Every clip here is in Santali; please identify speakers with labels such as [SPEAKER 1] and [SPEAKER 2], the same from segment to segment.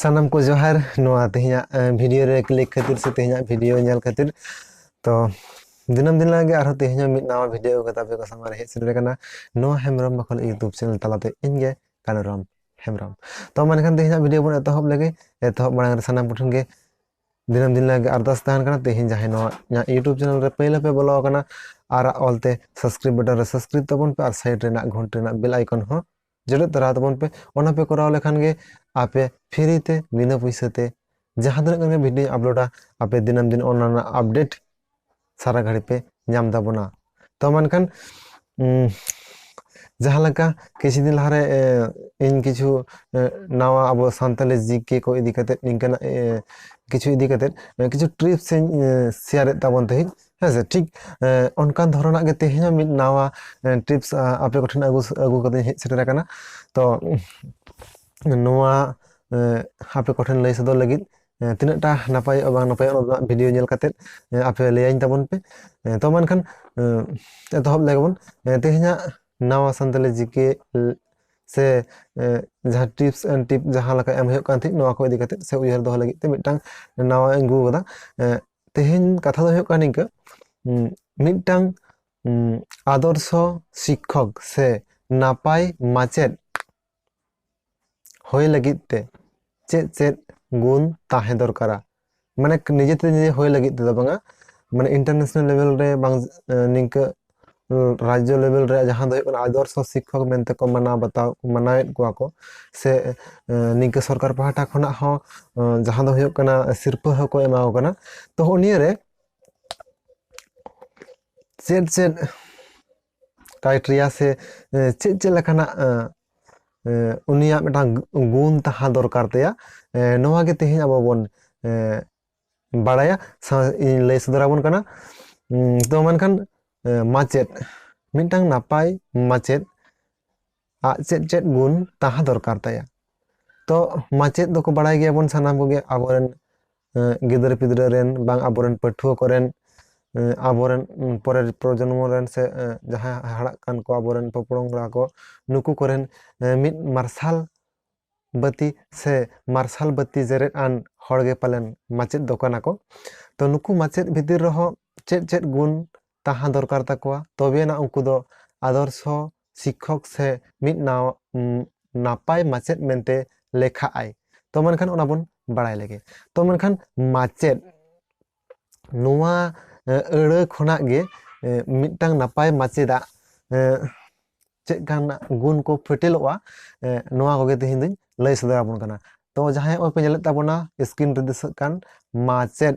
[SPEAKER 1] ᱥᱟᱱᱟᱢ ᱠᱚ ᱡᱚᱦᱟᱨ ᱱᱚᱣᱟ ᱛᱮᱦᱮᱧᱟᱜ ᱵᱷᱤᱰᱤᱭᱳ ᱨᱮ ᱠᱞᱤᱠ ᱠᱷᱟᱹᱛᱤᱨ ᱥᱮ ᱛᱮᱦᱮᱧᱟᱜ ᱵᱷᱤᱰᱤᱭᱳ ᱧᱮᱞ ᱠᱷᱟᱹᱛᱤᱨ ᱛᱚ ᱫᱤᱱᱟᱹᱢ ᱫᱤᱱ ᱞᱟᱜᱮ ᱟᱨᱦᱚᱸ ᱛᱮᱦᱮᱧ ᱦᱚᱸ ᱢᱤᱫ ᱱᱟᱣᱟ ᱵᱷᱤᱰᱤᱭᱳ ᱠᱟᱛᱮ ᱟᱯᱮ ᱠᱚ ᱥᱟᱢᱟᱝ ᱨᱮ ᱦᱮᱡ ᱥᱮᱴᱮᱨ ᱟᱠᱟᱱᱟ ᱱᱚᱣᱟ ᱦᱮᱢᱵᱨᱚᱢ ᱵᱟᱠᱷᱚᱞ ᱤᱭᱩᱴᱩᱵᱽ ᱪᱮᱱᱮᱞ ᱛᱟᱞᱟᱛᱮ ᱤᱧ ᱜᱮ ᱠᱟᱱᱩᱨᱟᱢ ᱦᱮᱢᱵᱨᱚᱢ ᱛᱚ ᱢᱟ ᱮᱱᱠᱷᱟᱱ ᱛᱮᱦᱮᱧᱟᱜ ᱵᱷᱤᱰᱤᱭᱳ ᱵᱚᱱ ᱮᱛᱚᱦᱚᱵ ᱞᱮᱜᱮ ᱮᱛᱚᱦᱚᱵ ᱢᱟᱲᱟᱝ ᱨᱮ ᱥᱟᱱᱟᱢ ᱠᱚᱴᱷᱮᱱ ᱜᱮ ᱫᱤᱱᱟᱹᱢ ᱫᱤᱱ ᱞᱟᱹᱜᱤᱫ ᱟᱨᱫᱟᱥ ᱛᱟᱦᱮᱱ ᱠᱟᱱᱟ ᱛᱮᱦᱮᱧ ᱡᱟᱦᱟᱸᱭ ᱱᱚᱣᱟ ᱤᱧᱟᱹᱜ ᱤᱭᱩᱴᱩᱵᱽ ᱪᱮᱱᱮᱞ ᱨᱮ ᱯᱟᱹᱭᱞᱟᱹ ᱯᱮ ᱵᱚᱞᱚ ᱟᱠᱟᱱᱟ ᱟᱨ ᱚᱞᱛᱮ ᱥᱟᱵᱥᱠᱨᱤᱯ ᱵᱟᱴᱚᱱ ᱨᱮ ᱥᱟᱵᱥᱠᱨᱤᱯ ᱛᱟᱵᱚᱱ ᱯᱮ ᱟᱨ ᱥᱟᱭᱤᱰ ᱨᱮᱱᱟᱜ ᱜᱷᱚᱱᱴᱤ ᱨᱮᱱᱟᱜ ᱵᱮᱞ ᱟᱭᱠᱚᱱ ᱦᱚᱸ ᱡᱚᱴᱮᱫ ᱛᱚᱨᱟ ᱛᱟᱵᱚᱱ ᱯᱮ ᱚᱱᱟ ᱯᱮ ᱠᱚᱨᱟᱣ ᱞᱮᱠᱷᱟᱱ ᱜᱮ ᱟᱯᱮ ᱯᱷᱨᱤ ᱛᱮ ᱵᱤᱱᱟᱹ ᱯᱩᱭᱥᱟᱹ ᱛᱮ ᱡᱟᱦᱟᱸ ᱛᱤᱱᱟᱹᱜ ᱜᱟᱱ ᱜᱮ ᱵᱷᱤᱰᱤᱭᱳᱧ ᱟᱯᱞᱳᱰᱟ ᱟᱯᱮ ᱫᱤᱱᱟᱹᱢ ᱫᱤᱱ ᱚᱱᱟ ᱨᱮᱱᱟᱜ ᱟᱯᱰᱮᱴ ᱥᱟᱨᱟ ᱜᱷᱟᱹᱲᱤ ᱯᱮ ᱧᱟᱢ ᱛᱟᱵᱚᱱᱟ ᱛᱚ ᱢᱮᱱᱠᱷᱟᱱ ᱡᱟᱦᱟᱸ ᱞᱮᱠᱟ ᱠᱤᱪᱷᱩ ᱫᱤᱱ ᱞᱟᱦᱟᱨᱮ ᱤᱧ ᱠᱤᱪᱷᱩ ᱱᱟᱣᱟ ᱟᱵᱚ ᱥᱟᱱᱛᱟᱞᱤ ᱡᱤᱠᱮ ᱠᱚ ᱤᱫᱤ ᱠᱟᱛᱮᱫ ᱱᱤᱝᱠᱟᱱᱟᱜ ᱠᱤᱪᱷᱩ ᱤᱫᱤ ᱠᱟᱛᱮᱫ ᱠᱤᱪᱷᱩ ᱴᱨᱤᱯᱥ ᱤᱧ ᱥᱮᱭᱟᱨᱮᱫ ᱛᱟᱵᱚᱱ ᱛᱟᱦᱮᱸᱫ ᱦᱮᱸᱥᱮ ᱴᱷᱤᱠ ᱚᱱᱠᱟᱱ ᱫᱷᱚᱨᱚᱱᱟᱜ ᱜᱮ ᱛᱮᱦᱮᱧ ᱦᱚᱸ ᱢᱤᱫ ᱱᱟᱣᱟ ᱴᱨᱤᱯᱥ ᱟᱯᱮ ᱠᱚᱴᱷᱮᱱ ᱟᱹᱜᱩ ᱟᱹᱜᱩ ᱠᱟᱛᱮᱧ ᱦᱮᱡ ᱥᱮᱴᱮᱨ ᱟᱠᱟᱱᱟ ᱛᱚ ᱱᱚᱣᱟ ᱟᱯᱮ ᱠᱚᱴᱷᱮᱱ ᱞᱟᱹᱭ ᱥᱚᱫᱚᱨ ᱞᱟᱹᱜᱤᱫ ᱮᱸ ᱛᱤᱱᱟᱹᱜ ᱴᱟ ᱱᱟᱯᱟᱭᱚᱜᱼᱟ ᱵᱟᱝ ᱱᱟᱯᱟᱭᱚᱜᱼᱟ ᱚᱱᱟ ᱫᱚ ᱦᱟᱸᱜ ᱵᱷᱤᱰᱤᱭᱳ ᱧᱮᱞ ᱠᱟᱛᱮᱫ ᱮᱸ ᱟᱯᱮ ᱞᱟᱹᱭᱟᱹᱧ ᱛᱟᱵᱚᱱ ᱯᱮ᱾ ᱮᱸ ᱛᱚ ᱢᱟ ᱮᱱᱠᱷᱟᱱ ᱮᱸ ᱮᱛᱚᱦᱚᱵ ᱞᱮᱜᱮ ᱵᱚᱱ ᱮᱸ ᱛᱮᱦᱮᱧᱟᱜ ᱱᱟᱣᱟ ᱥᱟᱱᱛᱟᱞᱤ ᱡᱤᱠᱮ ᱥᱮ ᱮᱸ ᱡᱟᱦᱟᱸ ᱴᱤᱯᱥ ᱮᱱ ᱴᱤᱯ ᱡᱟᱦᱟᱸ ᱞᱮᱠᱟ ᱮᱢ ᱦᱩᱭᱩᱜ ᱠᱟᱱ ᱛᱟᱦᱮᱸᱜ ᱱᱚᱣᱟ ᱠᱚ ᱤᱫᱤ ᱠᱟᱛᱮᱜ ᱥᱮ ᱩᱭᱦᱟᱹᱨ ᱫᱚᱦᱚ ᱞᱟᱹᱜᱤᱫ ᱛᱮ ᱢᱤᱫᱴᱟᱝ ᱱᱟᱣᱟᱧ ᱟᱹᱜᱩ ᱟᱠᱟᱫᱟ ᱮᱸ ᱛᱮᱦᱮᱧ ᱠᱟᱛᱷᱟ ᱫᱚ ᱦᱩᱭᱩᱜ ᱠᱟᱱᱟ ᱱᱤᱝᱠᱟᱹ ᱩᱸ ᱢᱤᱫᱴᱟᱝ ᱩᱸ ᱟᱫᱚᱨᱥᱚ ᱥᱤᱠᱠᱷᱚᱠ ᱥᱮ ᱱᱟᱯᱟᱭ ᱢᱟᱪᱮᱫ ᱦᱳᱭ ᱞᱟᱹᱜᱤᱫ ᱛᱮ ᱪᱮᱫ ᱪᱮᱫ ᱜᱩᱱ ᱛᱟᱦᱮᱸ ᱫᱚᱨᱠᱟᱨᱟ ᱢᱟᱱᱮ ᱱᱤᱡᱮ ᱛᱮ ᱱᱤᱡᱮ ᱦᱳᱭ ᱞᱟᱹᱜᱤᱫ ᱛᱮᱫᱚ ᱵᱟᱝᱟ ᱢᱟᱱᱮ ᱤᱱᱴᱟᱨᱱᱮᱥᱱᱟᱞ ᱞᱮᱵᱮᱞ ᱨᱮ ᱵᱟᱝ ᱱᱤᱝᱠᱟᱹ ᱨᱟᱡᱽᱡᱚ ᱞᱮᱵᱮᱞ ᱨᱮ ᱡᱟᱦᱟᱸ ᱫᱚ ᱦᱩᱭᱩᱜ ᱠᱟᱱᱟ ᱟᱫᱚᱨᱥᱚ ᱥᱤᱠᱠᱷᱚᱠ ᱢᱮᱱᱛᱮ ᱠᱚ ᱢᱟᱱᱟᱣ ᱵᱟᱛᱟᱣ ᱢᱟᱱᱟᱣᱮᱫ ᱠᱚᱣᱟ ᱠᱚ ᱥᱮ ᱱᱤᱝᱠᱟᱹ ᱥᱚᱨᱠᱟᱨ ᱯᱟᱦᱴᱟ ᱠᱷᱚᱱᱟᱜ ᱦᱚᱸ ᱡᱟᱦᱟᱸ ᱫᱚ ᱦᱩᱭᱩᱜ ᱠᱟᱱᱟ ᱥᱤᱨᱯᱟᱹ ᱦᱚᱸᱠᱚ ᱮᱢᱟ ᱠᱚ ᱠᱟᱱᱟ ᱛᱚ ᱱᱤᱭᱟᱹᱨᱮ ᱪᱮᱫ ᱪᱮᱫ ᱠᱟᱭᱴᱨᱤᱭᱟ ᱥᱮ ᱪᱮᱫ ᱪᱮᱫ ᱞᱮᱠᱟᱱᱟᱜ ᱩᱱᱤᱭᱟᱜ ᱢᱤᱫᱴᱟᱝ ᱜᱩᱱ ᱛᱟᱦᱮᱸ ᱫᱚᱨᱠᱟᱨ ᱛᱟᱭᱟ ᱱᱚᱣᱟ ᱜᱮ ᱛᱮᱦᱮᱧ ᱟᱵᱚ ᱵᱚᱱ ᱵᱟᱲᱟᱭᱟ ᱤᱧ ᱞᱟᱹᱭ ᱥᱚᱫᱚᱨ ᱟᱵᱚᱱ ᱠᱟᱱᱟ ᱛᱚ ᱢᱮᱱᱠᱷᱟᱱ ᱢᱟᱪᱮᱫ ᱢᱤᱫᱴᱟᱝ ᱱᱟᱯᱟᱭ ᱢᱟᱪᱮᱫ ᱟᱡ ᱪᱮᱫ ᱪᱮᱫ ᱜᱩᱱ ᱛᱟᱦᱮᱸ ᱫᱚᱨᱠᱟᱨ ᱛᱟᱭᱟ ᱛᱚ ᱢᱟᱪᱮᱫ ᱫᱚᱠᱚ ᱵᱟᱲᱟᱭ ᱜᱮᱭᱟᱵᱚᱱ ᱥᱟᱱᱟᱢ ᱠᱚᱜᱮ ᱟᱵᱚᱨᱮᱱ ᱜᱤᱫᱽᱨᱟᱹ ᱯᱤᱫᱽᱨᱟᱹ ᱨᱮᱱ ᱵᱟᱝ ᱟᱵᱚᱨᱮᱱ ᱯᱟᱹᱴᱷᱩᱣᱟᱹ ᱠᱚᱨᱮᱱ ᱟᱵᱚᱨᱮᱱ ᱯᱚᱨᱮᱨ ᱯᱨᱚᱡᱚᱱᱢᱚ ᱨᱮᱱ ᱥᱮ ᱡᱟᱦᱟᱸᱭ ᱦᱟᱨᱟᱜ ᱠᱟᱱ ᱠᱚ ᱟᱵᱚᱨᱮᱱ ᱯᱚᱯᱚᱝᱲᱟ ᱠᱚ ᱱᱩᱠᱩ ᱠᱚᱨᱮᱱ ᱢᱤᱫ ᱢᱟᱨᱥᱟᱞ ᱵᱟᱹᱛᱤ ᱥᱮ ᱢᱟᱨᱥᱟᱞ ᱵᱟᱹᱛᱤ ᱡᱮᱨᱮᱫ ᱟᱱ ᱦᱚᱲᱜᱮ ᱯᱟᱞᱮᱱ ᱢᱟᱪᱮᱫ ᱫᱚ ᱠᱟᱱᱟ ᱠᱚ ᱛᱚ ᱱᱩᱠᱩ ᱢᱟᱪᱮᱫ ᱵᱷᱤᱛᱤᱨ ᱨᱮᱦᱚᱸ ᱪᱮᱫ ᱪᱮᱫ ᱜᱩᱱ ᱛᱟᱦᱟᱸ ᱫᱚᱨᱠᱟᱨ ᱛᱟᱠᱚᱣᱟ ᱛᱚᱵᱮ ᱟᱱᱟᱜ ᱩᱱᱠᱩ ᱫᱚ ᱟᱫᱚᱨᱥᱚ ᱥᱤᱠᱠᱷᱚᱠ ᱥᱮ ᱢᱤᱫ ᱱᱟᱯᱟᱭ ᱢᱟᱪᱮᱫ ᱢᱮᱱᱛᱮ ᱞᱮᱠᱷᱟᱜ ᱟᱭ ᱛᱚ ᱢᱮᱱᱠᱷᱟᱱ ᱚᱱᱟ ᱵᱚᱱ ᱵᱟᱲᱟᱭ ᱞᱮᱜᱮ ᱛᱚ ᱢᱮᱱᱠᱷᱟᱱ ᱢᱟᱪᱮᱫ ᱱᱚᱣᱟ ᱟᱹᱲᱟᱹ ᱠᱷᱚᱱᱟᱜ ᱜᱮ ᱢᱤᱫᱴᱟᱝ ᱱᱟᱯᱟᱭ ᱢᱟᱪᱮᱫᱟᱜ ᱪᱮᱫ ᱠᱟᱱ ᱜᱩᱱ ᱠᱚ ᱯᱷᱮᱴᱮᱞᱚᱜᱼᱟ ᱱᱚᱣᱟ ᱠᱚᱜᱮ ᱛᱮᱦᱮᱧ ᱫᱚᱧ ᱞᱟᱹᱭ ᱥᱚᱫᱚᱨ ᱟᱵᱚᱱ ᱠᱟᱱᱟ ᱛᱚ ᱡᱟᱦᱟᱸᱭ ᱚᱠᱚᱭ ᱯᱮ ᱧᱮᱞᱮᱫ ᱛᱟᱵᱚᱱᱟ ᱥᱠᱨᱤᱱ ᱨᱮ ᱫᱤᱥᱟᱹᱜ ᱠᱟᱱ ᱢᱟᱪᱮᱫ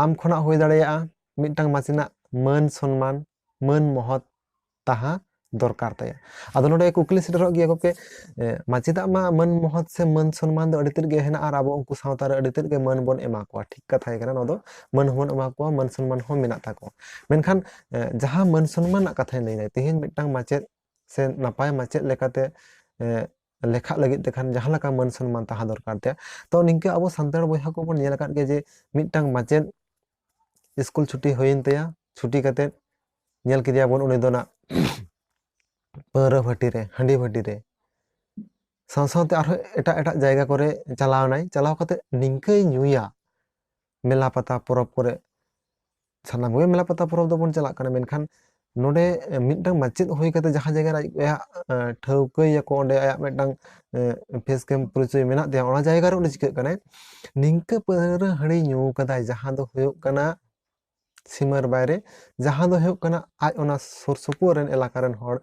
[SPEAKER 1] ᱟᱢ ᱠᱷᱚᱱᱟᱜ ᱦᱩᱭ ᱫᱟᱲᱮᱭᱟᱜᱼᱟ ᱢᱤᱫᱴᱟᱝ ᱢᱟᱪᱮᱱᱟᱜ ᱢᱟᱹᱱ ᱥᱚᱱᱢᱟᱱ ᱢᱟᱹᱱ ᱢᱚᱦᱚᱛ ᱛᱟᱦᱮᱸ ᱫᱚᱨᱠᱟᱨ ᱛᱟᱭᱟ ᱟᱫᱚ ᱱᱚᱰᱮ ᱠᱩᱠᱞᱤ ᱥᱮᱴᱮᱨᱚᱜ ᱜᱮᱭᱟ ᱜᱚᱢᱠᱮ ᱢᱟᱪᱮᱫᱟᱜ ᱢᱟ ᱢᱟᱹᱱ ᱢᱚᱦᱚᱛ ᱥᱮ ᱢᱟᱹᱱ ᱥᱚᱱᱢᱟᱱ ᱫᱚ ᱟᱹᱰᱤ ᱛᱮᱫ ᱜᱮ ᱦᱮᱱᱟᱜᱼᱟ ᱟᱨ ᱟᱵᱚ ᱩᱱᱠᱩ ᱥᱟᱶᱛᱟ ᱨᱮ ᱟᱹᱰᱤ ᱛᱮᱫ ᱜᱮ ᱢᱟᱹᱱ ᱵᱚᱱ ᱮᱢᱟ ᱠᱚᱣᱟ ᱴᱷᱤᱠ ᱠᱟᱛᱷᱟ ᱜᱮ ᱠᱟᱱᱟ ᱱᱚᱣᱟ ᱫᱚ ᱢᱟᱹᱱ ᱦᱚᱸᱵᱚᱱ ᱮᱢᱟ ᱠᱚᱣᱟ ᱢᱟᱹᱱ ᱥᱚᱱᱢᱟᱱ ᱦᱚᱸ ᱢᱮᱱᱟᱜ ᱛᱟᱠᱚᱣᱟ ᱢᱮᱱᱠᱷᱟᱱ ᱡᱟᱦᱟᱸ ᱢᱟᱹᱱ ᱥᱚᱱᱢᱟᱱ ᱨᱮᱱᱟᱜ ᱠᱟᱛᱷᱟᱧ ᱞᱟᱹᱭᱫᱟ ᱛᱮᱦᱮᱧ ᱢᱤᱫᱴᱟᱝ ᱢᱟᱪᱮᱫ ᱥᱮ ᱱᱟᱯᱟᱭ ᱢᱟᱪᱮᱫ ᱞᱮᱠᱟᱛᱮ ᱞᱮᱠᱷᱟᱜ ᱞᱟᱹᱜᱤᱫ ᱛᱮ ᱠᱷᱟᱱ ᱡᱟᱦᱟᱸ ᱞᱮᱠᱟ ᱢᱟᱹᱱ ᱥᱚᱱᱢᱟᱱ ᱛᱟᱦᱮᱸ ᱫᱚᱨᱠᱟᱨ ᱛᱟᱭᱟ ᱛᱚ ᱱᱤᱝᱠᱟᱹ ᱟᱵᱚ ᱥᱟᱱᱛᱟᱲ ᱵᱚᱭᱦᱟ ᱠᱚᱵᱚᱱ ᱧᱮᱞ ᱟᱠᱟᱫ ᱜᱮᱭᱟ ᱡᱮ ᱢᱤᱫᱴᱟᱝ ᱢᱟᱪᱮᱫ ᱥᱠᱩᱞ ᱪᱷᱩᱴᱤ ᱦᱩᱭᱮᱱ ᱛᱟᱭᱟ ᱪᱷᱩᱴᱤ ᱠᱟᱛᱮᱫ ᱧᱮᱞ ᱠᱮᱫᱮᱭᱟᱵᱚᱱ ᱩᱱᱤ ᱫᱚ ᱱᱟᱜ ᱯᱟᱹᱣᱨᱟᱹ ᱵᱷᱟᱹᱴᱤ ᱨᱮ ᱦᱟᱺᱰᱤ ᱵᱷᱟᱹᱴᱤ ᱨᱮ ᱥᱟᱶ ᱥᱟᱶᱛᱮ ᱟᱨᱦᱚᱸ ᱮᱴᱟᱜ ᱮᱴᱟᱜ ᱡᱟᱭᱜᱟ ᱠᱚᱨᱮ ᱪᱟᱞᱟᱣᱱᱟᱭ ᱪᱟᱞᱟᱣ ᱠᱟᱛᱮᱫ ᱱᱤᱝᱠᱟᱹᱭ ᱧᱩᱭᱟ ᱢᱮᱞᱟ ᱯᱟᱛᱟ ᱯᱚᱨᱚᱵᱽ ᱠᱚᱨᱮ ᱥᱟᱱᱟᱢ ᱠᱚᱜᱮ ᱢᱮᱞᱟ ᱯᱟᱛᱟ ᱯᱚᱨᱚᱵᱽ ᱫᱚᱵᱚᱱ ᱪᱟᱞᱟᱜ ᱠᱟᱱᱟ ᱢᱮᱱᱠᱷᱟᱱ ᱱᱚᱰᱮ ᱢᱤᱫᱴᱟᱝ ᱢᱟᱪᱮᱫ ᱦᱩᱭ ᱠᱟᱛᱮ ᱡᱟᱦᱟᱸ ᱡᱟᱭᱜᱟ ᱨᱮ ᱟᱭᱟᱜ ᱴᱷᱟᱹᱣᱠᱟᱹᱭᱟᱠᱚ ᱚᱸᱰᱮ ᱟᱭᱟᱜ ᱢᱤᱫᱴᱟᱝ ᱯᱷᱮᱥ ᱠᱮᱢ ᱯᱚᱨᱤᱪᱚᱭ ᱢᱮᱱᱟᱜ ᱛᱟᱭᱟ ᱚᱱᱟ ᱡᱟᱭᱜᱟ ᱨᱮ ᱩᱱᱤ ᱪᱤᱠᱟᱹᱜ ᱠᱟᱱᱟᱭ ᱱᱤᱝᱠᱟᱹ ᱯᱟᱹᱣᱨᱟᱹ ᱦᱟᱺᱰᱤ ᱧᱩ ᱠᱟᱫᱟᱭ ᱡᱟᱦᱟᱸ ᱫᱚ ᱦᱩᱭᱩᱜ ᱠᱟᱱᱟ ᱥᱤᱢᱟᱹᱨ ᱵᱟᱭᱨᱮ ᱡᱟᱦᱟᱸ ᱫᱚ ᱦᱩᱭᱩᱜ ᱠᱟᱱᱟ ᱟᱡ ᱚᱱᱟ ᱥᱩᱨ ᱥᱩᱯᱩᱨ ᱨᱮᱱ ᱮᱞᱟᱠᱟ ᱨᱮᱱ ᱦᱚᱲ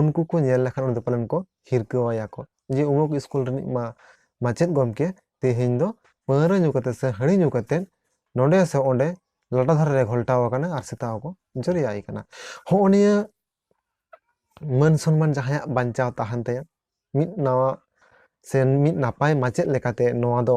[SPEAKER 1] ᱩᱱᱠᱩ ᱠᱚ ᱧᱮᱞ ᱞᱮᱠᱷᱟᱱ ᱩᱱᱤ ᱫᱚ ᱯᱟᱞᱮᱱ ᱠᱚ ᱦᱤᱨᱠᱟᱹ ᱟᱭᱟ ᱠᱚ ᱡᱮ ᱩᱢᱩᱠ ᱥᱠᱩᱞ ᱨᱤᱱᱤᱡ ᱢᱟ ᱢᱟᱪᱮᱫ ᱜᱚᱢᱠᱮ ᱛᱮᱦᱮᱧ ᱫᱚ ᱯᱟᱹᱣᱨᱟᱹ ᱧᱩ ᱠᱟᱛᱮ ᱥᱮ ᱦᱟᱺᱰᱤ ᱧᱩ ᱠᱟᱛᱮ ᱱᱚᱰᱮ ᱥᱮ ᱚᱸᱰᱮ ᱞᱟᱴᱟ ᱫᱷᱟᱨᱮ ᱨᱮ ᱜᱷᱚᱞᱴᱟᱣ ᱟᱠᱟᱱᱟ ᱟᱨ ᱥᱮᱛᱟ ᱦᱚᱸᱠᱚ ᱡᱚᱨᱮᱭᱟᱭ ᱠᱟᱱᱟ ᱦᱚᱸᱜᱼᱚ ᱱᱤᱭᱟᱹ ᱢᱟᱹᱱ ᱥᱚᱱᱢᱟᱱ ᱡᱟᱦᱟᱸᱭᱟᱜ ᱵᱟᱧᱪᱟᱣ ᱛᱟᱦᱮᱱ ᱛᱟᱭᱟ ᱢᱤᱫ ᱱᱟᱣᱟ ᱥᱮ ᱢᱤᱫ ᱱᱟᱯᱟᱭ ᱢᱟᱪᱮᱫ ᱞᱮᱠᱟᱛᱮ ᱱᱚᱣᱟ ᱫᱚ